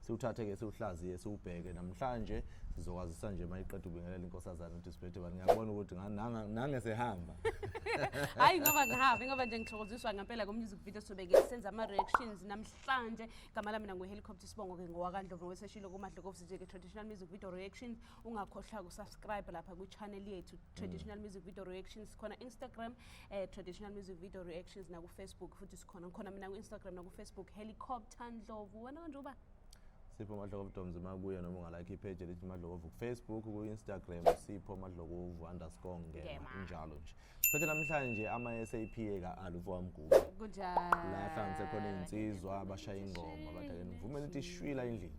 siwuthathe ke siwuhlaziye siwubheke namhlanje sizokwazisa nje uma iqeda ubingelela inkosazana ukuthi sibhethe bani ngiyabona ukuthi nange sehamba hayi ngoba ngihambe ngoba nje ngithokoziswa ngempela ko-music video sobeke senza ama-reactions namhlanje gama lami nanguhelicopter sibongo-ke ngowakandlovu weseshilo kumadlokovusi nje-ke traditional music video reactions ungakhohlwa kusubscribe lapha kwichannel yethu traditional mm. music video reactions sikhona instagram eh, traditional music video reactions nakufacebook futhi sikhona ngikhona mina ku-instagram nakufacebook helicopter ndlovu wena kanje uba sipho madlokovu doms makuye noma ungalike ipage elithi madlokovu kufacebook ku-instagram sipho madlokovu underscore ngema injalo nje phethe namhlanje ama-sap eka-ali ufowamguba la hlanganise khona iy'nsizwa abashaya ingoma abadaleni ngivumela ukuthi ishwila endlini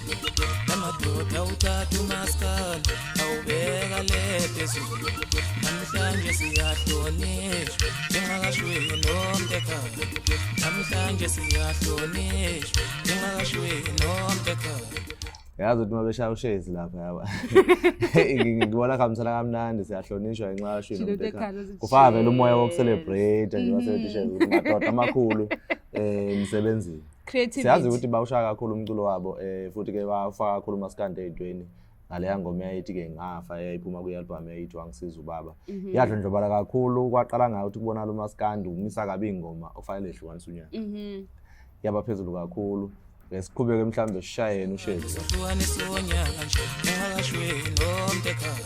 amadoda uthatha umaskal awubeka le phezulu namhlanje siyahlonishwa njengakashwini nomtekhala namhlanje siyahlonishwa njengakashwini nomtekhala yazi ukuthi uma beshaya ushezi lapha yaba ngibona kuhambisana kamnandi siyahlonishwa ngenxa yashwini nomtekhala kufaka vele umoya wokucelebrate nje wasetishe madoda amakhulu um emsebenzini Creativity. siyazi ukuthi bawushaya kakhulu umculo wabo eh futhi ke bafaka kakhulu umaskandi ey'ntweni ngaleya ngoma eyayithi-ke ngafa eyayiphuma kwi-albhamu eyayithi wangisiza ubaba Mhm. yadlondlobala kakhulu kwaqala ngayo ukuthi kubonala umaskandi umisa kabi ingoma okufanele ehlukanisa unyaka Mhm. yaba phezulu kakhulu Eh, siqhubeke mhlawumbe sishayeni ushezi Hlukanisa unyaka nje, ngingakashwi nomtekhala.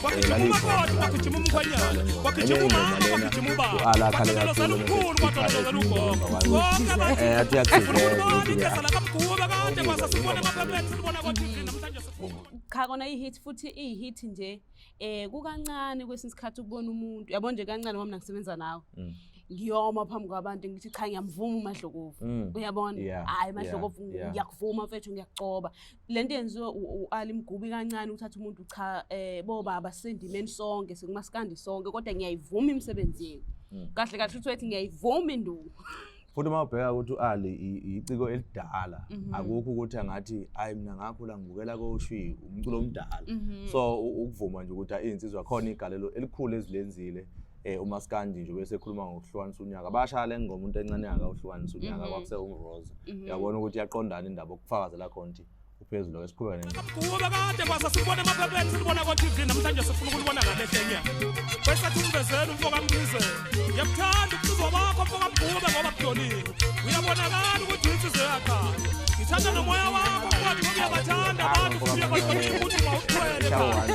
kwagijima umakoti kwagijima umkhwenyana kwagijima umama kwagijima ubaba kwagijima lukhulu kwagijima lugogo konke abantuuakamguba kade kwasa sibona kwaphamlethu sibona kwatv namhlanje cha kona i-hit futhi iyi-hit nje um kukancane kwesinye isikhathi ukubona umuntu yabo nje kancane wami nangisebenza nawe mm. ngiyoma phambi kwabantu ngithi cha ngiyamvuma umadlokovu mm. uyabona hhayi madlokovu ngiyakuvuma mfethu ngiyakucoba le nto yenziwe u-ali mgubi kancane uthatha umuntu cha um bobaba sisendimeni sonke sekumasikandi sonke kodwa ngiyayivuma imisebenzi yenu hmm. kahle kahle uthi wethi ngiyayivuma induku futhi uma ubheka ukuthi u-ali yiciko elidala mhm. akukho ukuthi angathi ayi mina ngakhula ngibukela koshwi umculo omdala mhm. so ukuvuma nje ukuthi insizwa khona igalelo elikhulu ezilenzile eh umaskandi nje bese ekhuluma ngokuhlukanisa unyaka bashaya le ngoma umuntu encane yaka uhlukanisa unyaka mhm. kwakuse umroza mhm. yabona ukuthi yaqondana indaba ukufakazela khona ukuthi uphezulu esikhuleka nento kuba kade kwasa sibona amaphephethu sibona ko TV namhlanje sifuna ukulibona ngale hlenya kwesathi umvezela umfoka mbize yakuthanda ukuzwa wakho mfoka mbuka ngoba kudonile uyabonakala ukuthi insizwe yakha ngithanda nomoya wakho kwathi uyabathanda abantu uyabathanda ukuthi mawuthwele cha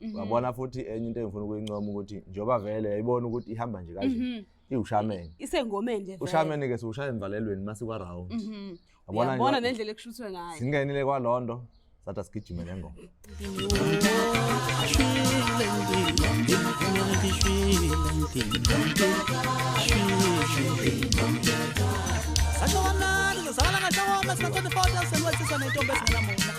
Mhm. wabona futhi enye into engifuna ukuyincoma ukuthi njengoba vele yayibona ukuthi ihamba nje kanje Mhm. iwushameni Isengomeni nje. vele. ushameni ke siwushaya emvalelweni masikwa round Mhm. wabona Uyabona nje nendlela ekushuthwe ngayo. singenile kwalondo sathi asigijime le ngoma Sathi wamnandi, uzalana kahle woma, sina 24 years and wesisa nentombi esingenamuntu.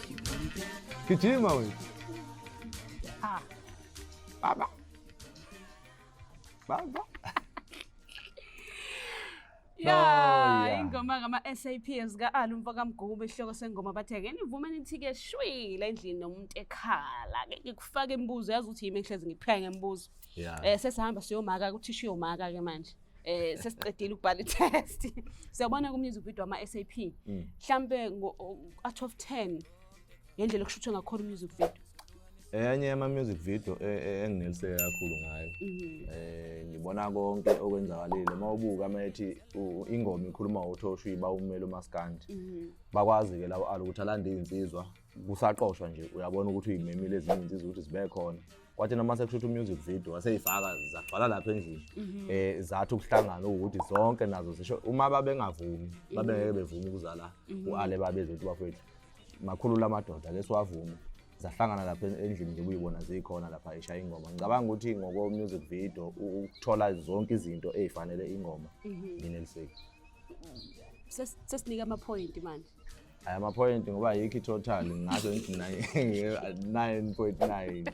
Kijima wewe. Ah. Baba. Baba. Ya, oh, yeah. ingoma ngama SAP ezika Alu mfo kaMgubu isihloko sengoma bathe ke nivume nithi ke shwile endlini nomuntu ekhala ke ngikufaka imibuzo yazi ukuthi yimi ngihlezi ngiphika ngemibuzo. Yeah. Eh sesihamba siyomaka ukuthi siyomaka ke manje. eh sesiqedile ukubhala i-test siyabona ku-music video ama-sap mm. mhlampe ngo-out of ten ngendlela okushuthwe ngakhona u-music video enye yama-music video e, e, engineliseke kakhulu ngayo um ngibona konke okwenzakalile uma ubuka uma ethi ingoma ikhuluma uthoshiba umele umaskandi mhm. bakwazi-ke labo ala ukuthi alande iy'nsizwa kusaqoshwa nje uyabona ukuthi uyimemile ezinye insizwa ukuthi zibe khona kwathi noma sekushuthi umusic video waseyifaka zagcwala lapha endlini mhm. eh zathi ukuhlangana ukuthi zonke nazo zisho uma babengavumi mhm. babengeke bevuma ukuzala mhm. uale babeze ukuthi bafethu makhulu lamadoda ke siwavuma zahlangana lapha endlini nje kuyibona zikhona lapha eshaya ingoma ngicabanga ukuthi ngoko music video ukuthola zonke izinto ezifanele ingoma ngineliseki sesinika ama point manje Aya ma point ngoba yikho total ngazo ngithi 9.9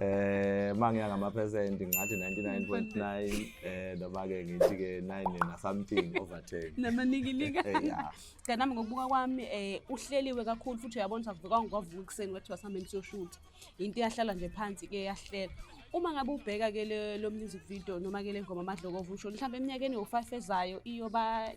eh mangiya ngama percent ngathi 99.9 eh noma ke ngithi ke 9 na something over 10 namanikilika eh, yeah kanami ngokubuka kwami eh uhleliwe kakhulu futhi uyabona ukuthi akuvuka ngokuvuka ekseni wathi wasameni siyoshutha into iyahlala nje phansi ke yahlela uma ngabe ubheka ke lo music video noma ke le ngoma amadlokovu usho mhlawumbe eminyakeni yo-five ezayo iyoba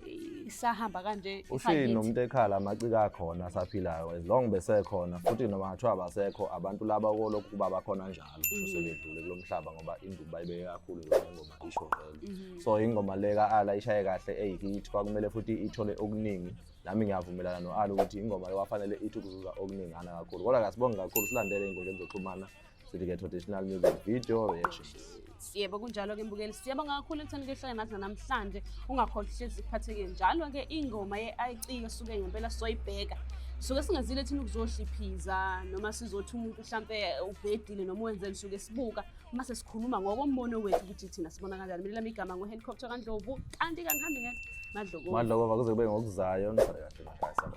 isahamba kanje ushini nomuntu ekhala amacika akhona asaphilayo as long besekhona futhi noma ngathiwa abasekho abantu laba kolokhu kuba bakhona njalo mhm. sebedlule kulo mhlaba ngoba induku bayibeke kakhulu yona ingoma isho vele mhm. so ingoma le ka-ala ishaye kahle eyikithi kwakumele futhi ithole okuningi nami ngiyavumelana no-ali ukuthi ingoma yowafanele ithi ukuzuza okuningana kakhulu kodwa kasibonge kakhulu silandele ey'nkundleni zokuxhumana sithi-ke traditional music video reactions yebo kunjalo-ke mbukeli siyabonga kakhulu ekutheni kuyohlale nathi nanamhlanje ungakhohlwa hlezi kuphatheke njalo-ke ingoma ye-ic yosuke ngempela soyibheka suke singazile thina ukuzohliphiza noma sizothi umuntu mhlampe ubhedile noma wenzeni suke sibuka uma sesikhuluma ngokombono wethu ukuthi thina sibona kanjani mina lami igama ngo-helicopter kandlovu kanti kangihambi ngethi madlokovu madlokovu kuze kube ngokuzayo nisale kahle makhaya sala